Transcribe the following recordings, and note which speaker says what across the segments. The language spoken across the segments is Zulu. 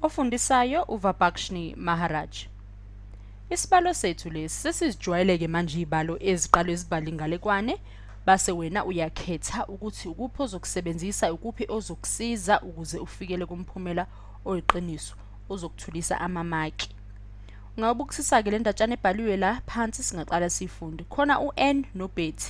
Speaker 1: Ofundisayo uVabhakshni Maharaj. Isibalo sethu lesi sesizijwayeleke manje izibalo eziqalwe izibali ngalekwane base wena uyakhetha ukuthi ukuphi ozokusebenzisa ukuphi ozokusiza ukuze ufikele kumphumela oyiqiniso ozokuthulisa amamaki. Ungawubukisisa-ke le ndatshana ebhaliwe la phansi singaqala siyifunde. Khona u-N no-Betty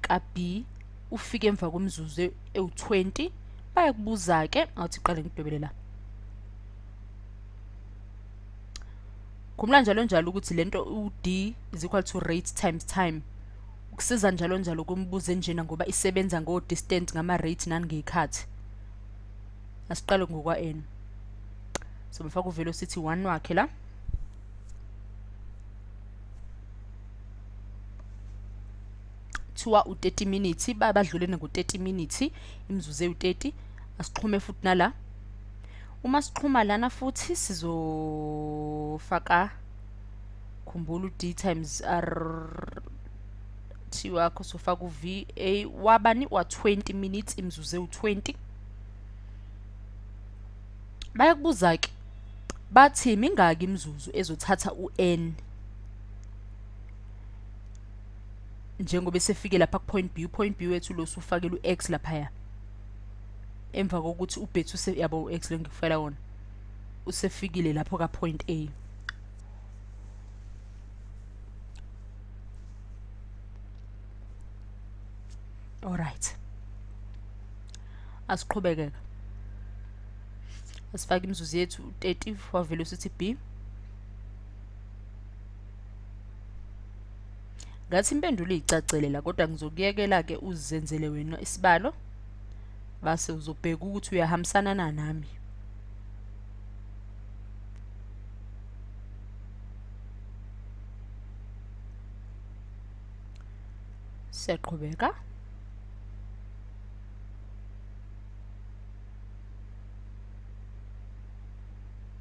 Speaker 1: ka-B ufike emva kwemizuzu e-, ewu-20 bayakubuza-ke awuthi qale ngidwebele la khumbula njalo njalo ukuthi le nto u-d is equal to rate times time ukusiza njalo njalo kumbuzo enjena ngoba isebenza ngo-distant ngama-rate nangey'khathi asiqale ngokwa-n so befaka uvelocity 1 wakhe la kuthiwa u-30 minutes badlule ngo-30 minutes imizuzu ewu-30 asixhume futhi nala uma sixhuma lana futhi sizofaka khumbula u-d times r t wakho sofaka u-v a wabani wa-20 minutes imizuzu ewu-20 bayakubuza-ke bathi mingaki imizuzu ezothatha u-n njengoba esefike lapha ku-point b u-point b wethu lo usufakela u-x laphaya emva kokuthi ubhethu yabo u-x lo ngikufakela wona usefikile lapho ka-point a alright asiqhubekeka asifake imizuzu yethu 30 wavele usithi b ngathi impendulo iyicacele la kodwa ngizokuyekela-ke uzenzele wena isibalo base uzobheka ukuthi uyahambisana na nami siyaqhubeka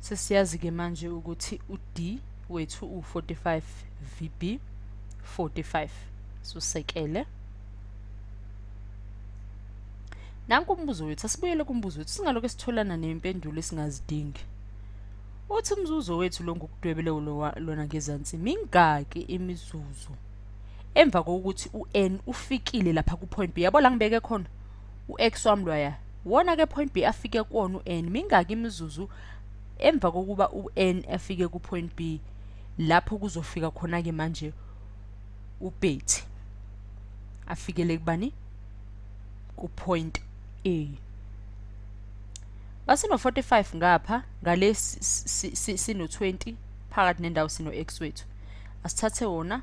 Speaker 1: sesiyazi-ke manje ukuthi u-d wethu u-45 vb 45 susekele nanku umbuzo wethu asibuyele kumbuzo wethu singalokho sitholana nempendulo esingazidingi uthi umzuzu wethu lo ngokudwebele lona ngezansi mingaki imizuzu emva kokuthi u-n ufikile lapha kupoint b yabo la ngibeke khona u-ex wami loya wona ke point b afike kuwona u-n mingaki imizuzu emva kokuba u-n afike ku-point b lapho kuzofika khona-ke manje ubhethi afikele kubani ku-point a basino-45 ngapha ngale sino-20 phakathi nendawo sino-x wethu asithathe wona